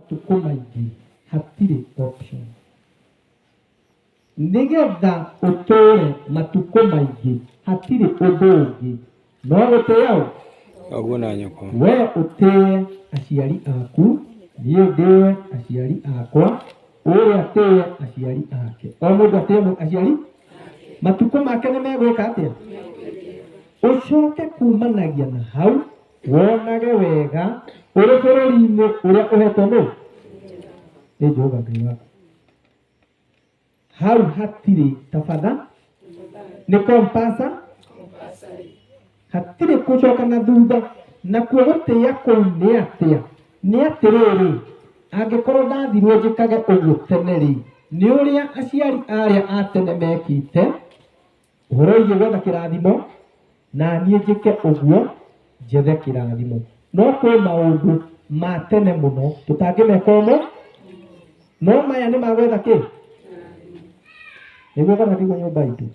matukũ maingĩ hatirĩ option. Nĩgetha ũtũũre matukũ maingĩ hatirĩ ũndũ ũngĩ no gũtĩa ũ? Baguo na nyoko. We ũtĩe aciari aku, niĩ ndĩe aciari akwa, ũrĩa atĩe aciari ake. O mũndũ atĩe mũ- aciari matukũ make nĩ megwĩka atĩa? Ũcoke kumanagia na hau Wonage wega ũrĩ bũrũri-inĩ ũrĩa ũhetwo nũ? Nĩ Jehova Ngai waku. Hau hatirĩ tabatha, nĩ compasa, hatirĩ gũcoka na thutha. Nakuo gũtĩa kũu nĩ atĩa? Nĩ atĩrĩrĩ, angĩkorwo ndathirwo njĩkage ũguo tene-rĩ, nĩ ũrĩa aciari arĩa a tene mekĩte, Hũroi njĩgwa na kĩrathimo, na niĩ njĩke ũguo, njethe kĩrathimo. No kwĩ maũndũ ma tene mũno tũtangĩmeka ũmũ, no maya nĩ magwetha kĩ? Nĩguo kana tiguo nyũmba itũ?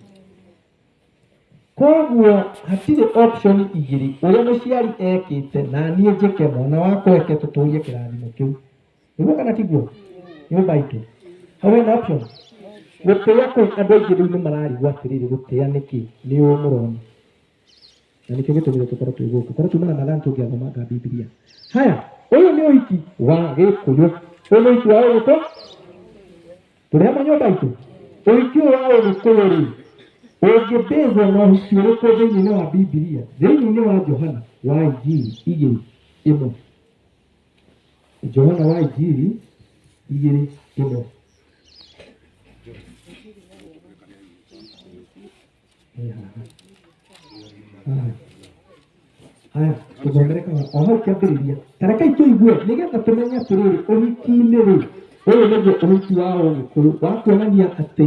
Koguo hatirĩ option igĩrĩ, ũrĩa mũciari ekĩte na niĩ njĩke, mwana wakwa eke, tũtũrie kĩrathimo kĩu. nĩguo kana tiguo nyũmba itũ hau ena option gũtĩa kũu andũ aingĩ rĩu nĩ mararigwo atĩrĩrĩ gũtĩa nĩkĩ nĩ ũũ mũrona na nĩkĩo gĩtũmire tũkorwo twĩ gũkũ korwo tuma ramadhan tũngĩathomanga bibilia haya ũyũ nĩ ũhiki wa gĩkũyũ ũyũ nĩ ũhiki wa ũgĩkũ tũrĩ hamwe nyũmba itũ ũhiki ũyũ wa ũgĩkũyũ rĩ ũngĩbĩzwo na ũhiki ũrĩkũ thĩinĩ wa bibilia thĩinĩ wa johana wa injili igĩrĩ ĩmwe Johana wa Injiri igĩrĩ ĩmwe. Ĩ haha. Haha. Haya, tũthomere kana o hau kĩambĩrĩria. Ta rekei tũigue nĩgetha tũmenye atĩrĩrĩ, ũhiki-inĩ rĩ, ũyũ nĩguo ũhiki wa Ũgĩkũyũ wa kuonania atĩ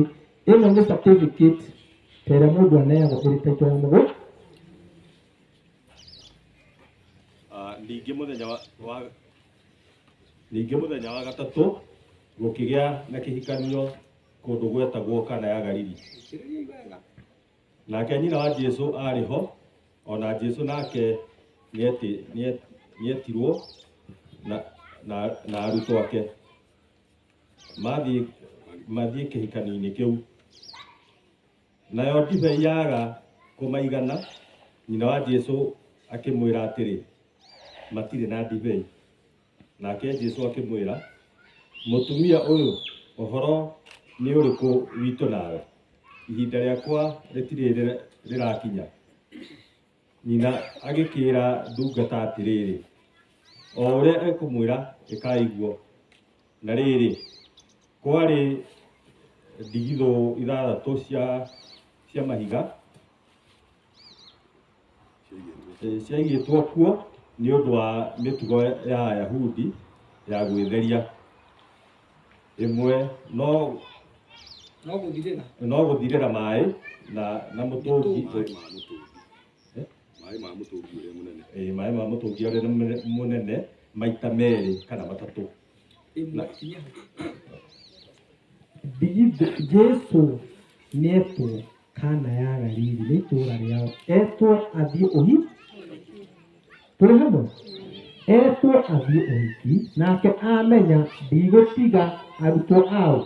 ĩno nĩ certificate ta ĩrĩa mũndũ aneagwo ĩrĩ taitũ ya mũgũnda. ningĩ mũthenya wa ningĩ mũthenya wa gatatũ gũkĩgĩa na kĩhikanio kũndũ gwetagwo kana ya Galili nake nyina wa Jesu arĩ ho ona Jesu nake nĩetirwo na arutwo ake mathiĩ kĩhikanio-inĩ kĩu Nayo ndibei yaga kũmaigana, nyina wa Jesu akĩmwĩra atĩrĩ, Matirĩ na ndibei. Nake Jesu akĩmwĩra, Mũtumia ũyũ, ũhoro nĩ ũrĩkũ witũ nawe? Ihinda rĩakwa rĩtirĩ rĩrakinya. Nyina agĩkĩĩra ndungata atĩrĩrĩ, o ũrĩa ekũmwĩra ĩkai guo. Na rĩrĩ, kwarĩ ndigithũ ithathatũ cia cia mahiga eh, ciaigĩtwo kuo nĩ ũndũ wa mĩtugo ya Ayahudi ya gwĩtheria. ĩmwe no no gũthirĩra no gũthirĩra maĩ na na mũtũngi Maĩ ma mũtũngi. Eh? Maĩ ma mũtũngi ũrĩa mũnene. eh, maĩ ma mũtũngi ũrĩa mũne- mũnene maita merĩ kana matatũ ĩmwe inya Jesu nĩetwo Kana ya Galili nĩ itũũra rĩao etwo athiĩ ũhi tũrĩ hamwe etwo athiĩ ũhiki nake amenya ndigũtiga arutwo ao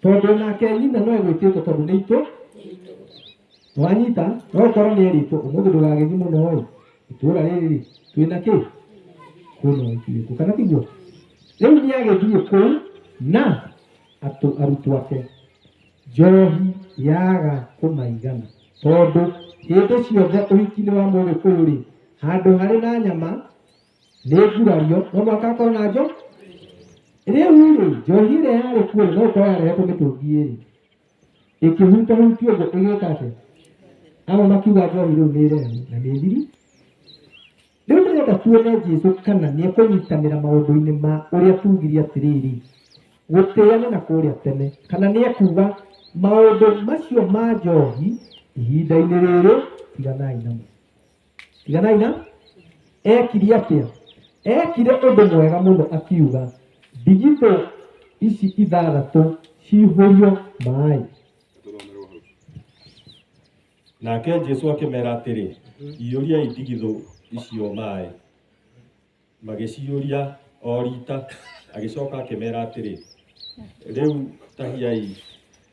tondũ nake nyina no egwĩtĩtwo tondũ nĩ itũ wanyita no ũkorwo nĩ erĩtwo ũmũthĩ ndũgagĩthiĩ mũno ĩ itũũra rĩrĩ rĩ twĩna kĩ kwĩna ũhiki witũ kana tiguo rĩu nĩ agĩthiĩ kũu na atũ arutwo ake Njohi yaaga kũmaigana. Tondũ hĩndĩ ciothe ũhiki-inĩ wa Mũgĩkũyũ-rĩ, handũ harĩ na nyama nĩ ngurario, no mũhaka hakorwo na njo. Rĩu-rĩ, njohi ĩrĩa yarĩ kuo no gũkorwo yarehetwo mĩtũngi ĩrĩ, ĩkĩhutahutio ũguo ĩgĩka atĩa? Amwe makiuga njohi rĩu nĩ ĩrehu na nĩ thiri. Rĩu ndĩrenda tuone Jesu kana nĩ ekũnyitanĩra maũndũ-inĩ ma ũrĩa tuugire atĩrĩrĩ, gũtĩĩane na kũrĩa tene, kana nĩ ekuuga, Maũndũ macio ma njohi ihinda-inĩ rĩrĩ tiganai namo. Tiganai na? Ekire atĩa? Ekire ũndũ mwega mũno akiuga, Ndigithũ ici ithathatũ ciihũrio maĩ. Nake Jesu akĩmera atĩrĩ, iyũriai ndigithũ icio maĩ. Magĩciyũria o rita, agĩcoka akĩmera atĩrĩ, rĩu tahiai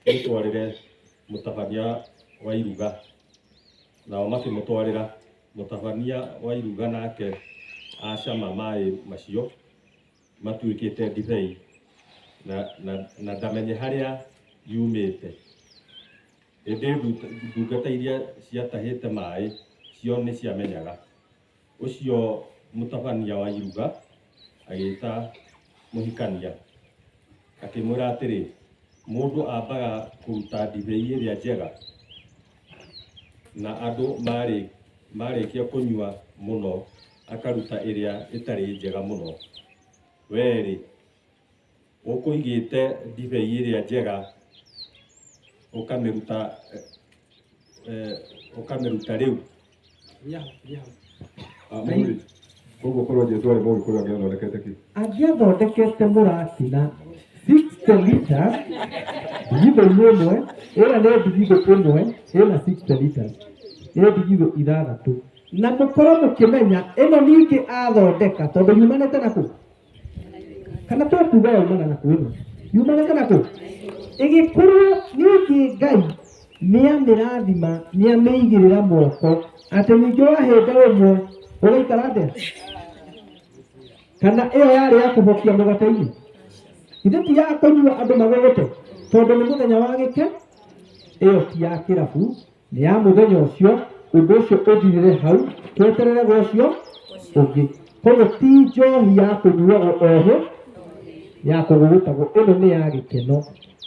mũtwarĩre mũtabania wa iruga. Nao makĩmũtwarĩra. Mũtabania wa iruga nake acama maĩ macio matuĩkĩte ndibei, na, na, na ndamenye harĩa yumĩte. Ĩndĩ ndungata iria ciatahĩte maĩ cio nĩ ciamenyaga. Ũcio mũtabania wa iruga agĩĩta mũhikania, akĩmwĩra atĩrĩ, Mũndũ ambaga kũruta ndibei ĩrĩa njega, na andũ marĩkia kũnyua mũno akaruta ĩrĩa ĩtarĩ njega mũno. Wee-rĩ, Ũkũigĩte ndibei ĩrĩa njega ũkamĩruta eh, ũkamĩruta rĩu Koguo korwo Jesu arĩ Mũgĩkũyũ angĩathondekete kĩ? angĩathondekete mũratina 60 liters ndigithũ-inĩ ĩmwe ĩrĩa nĩ ndigithũ ĩmwe ĩna 60 liters nĩ ndigithũ ithathatũ na mũkorwo mũkĩmenya ĩno ningĩ athondeka tondũ yumanĩte na kũ kana to kuga umana na kuuma yumana kana ku igikorwo niki ngai niamirathima niamĩigĩrĩra moko atĩ ningĩ wahĩnda ũmwe ũgaikara atĩa kana ĩyo yarĩ ya kũhokia mũgate-inĩ ithe ti ya kũnyua andũ magũgũte tondũ nĩ mũthenya wa gĩke ĩyo ti ya kĩrabu nĩ ya mũthenya ũcio ũndũ ũcio ũthirĩre hau tweterere gwa ũcio ũngĩ koguo ti njohi ya kũnyuagwo ohĩ ya kũgũgũtagwo ĩno nĩ ya gĩkeno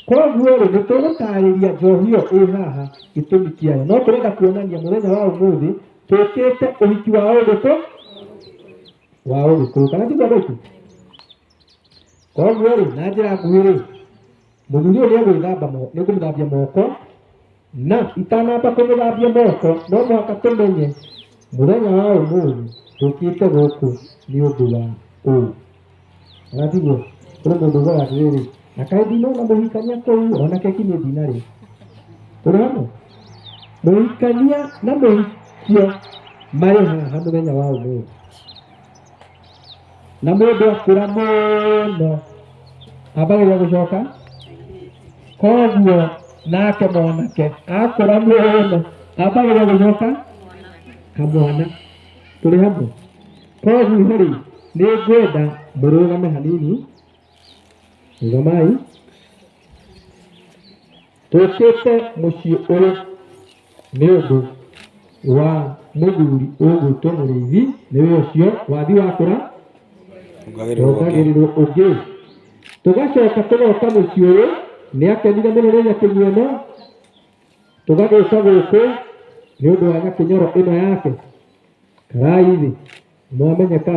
koguo rĩ nĩ tũgũtarĩria njohi ĩyo ĩ haha gĩtũmi kĩayo no tũrenda kuonania mũthenya wa ũmũthĩ tũkĩte ũhiki wa ũgĩkũ wa ũgĩkũyũ kana tiguo andũ aitũ koguo rĩ na njĩra nguhĩ rĩ mũthuri ũyũ nĩ egwĩthamba mo- nĩ ngũmũthambia moko na itanamba kũmũthambia moko no mũhaka tũmenye mũthenya wa ũmũthĩ ndũkĩte gũkũ nĩ ũndũ wa ũũ ratiguo kũrĩ mũndũ ũgora atĩrĩrĩ na kaĩ ndinona mũhikania kũu ona keki nĩ ndinarĩ tũrĩ hamwe mũhikania na mũhikio marĩ haha mũthenya wa ũmũthĩ na mũndũ akũra mũno ambagĩrĩria gũcoka koguo nake mwanake akũra mũno ambagĩrĩria gũcoka kamwana tũrĩ hamwe koguo rĩ nĩ ngwenda mũrũgame hanini rũgamai ũkĩte mũciĩ ũyũ nĩ ũndũ wa mũthuri ũgwĩtwo mũrĩithi nĩwe ũcio wathi wakũra Ongagĩrĩrwo ũngĩ. ongagĩrĩrwo ũngĩ tũgacoka tũgoka mũciĩ ũyũ nĩ akenire mũno nĩ nyakinyũ ĩno tũgagĩũka gũkũ nĩ ũndũ wa nyakinyoro ĩno yake karai thĩ mwamenyeka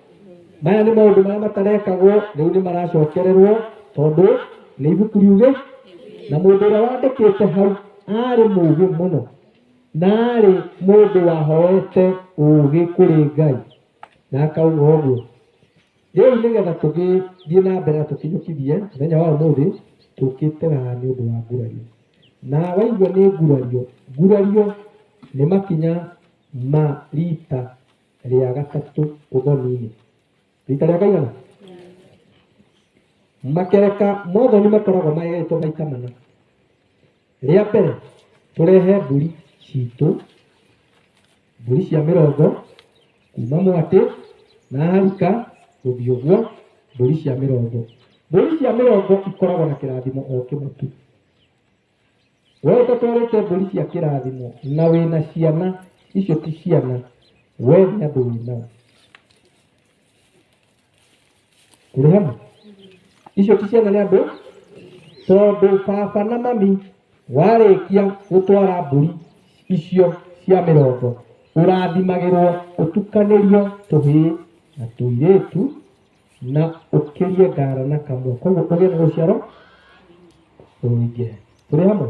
maya nĩ maũndũ marĩa matarekagwo rĩu nĩ maracokererwo tondũ nĩ ibuku riuge na mũndũ ũrĩa wandĩkĩte hau arĩ mũũgĩ mũno na arĩ mũndũ wahoete ũũgĩ kũrĩ ngai na akauga ũguo rĩu nĩgetha tũgĩthiĩ na mbere na tũkinyũkithie mũthenya wa ũmũthĩ tũkĩte haha nĩ ũndũ wa ngurario na waigua nĩ ngurario ngurario nĩ makinya ma rita Rĩa gatatũ ũthoni-inĩ. Rita rĩa kaigana? Makereka ma ũthoni makoragwo magegetwo maita mana. Rĩa mbere, tũrehe mbũri citũ, mbũri cia mĩrongo, kuma mwatĩ na harika gũthiĩ ũguo, mbũri cia mĩrongo. Mbũri cia mĩrongo ikoragwo na kĩrathimo o kĩmwe tu. We ũtatwarĩte mbũri cia kĩrathimo na wĩna ciana, icio ti ciana, we nĩ andũ wĩnao. Tũrĩ hamwe? Icio ti ciana nĩ andũ, tondũ baba na mami warĩkia gũtwara mbũri icio cia mĩrongo, ũrathimagĩrwo ũtukanĩrio tũhĩĩ na tũirĩtu, na ũkĩrie ngara na kamwe koguo ũgĩe na rũciaro rũingĩ tũrĩ hamwe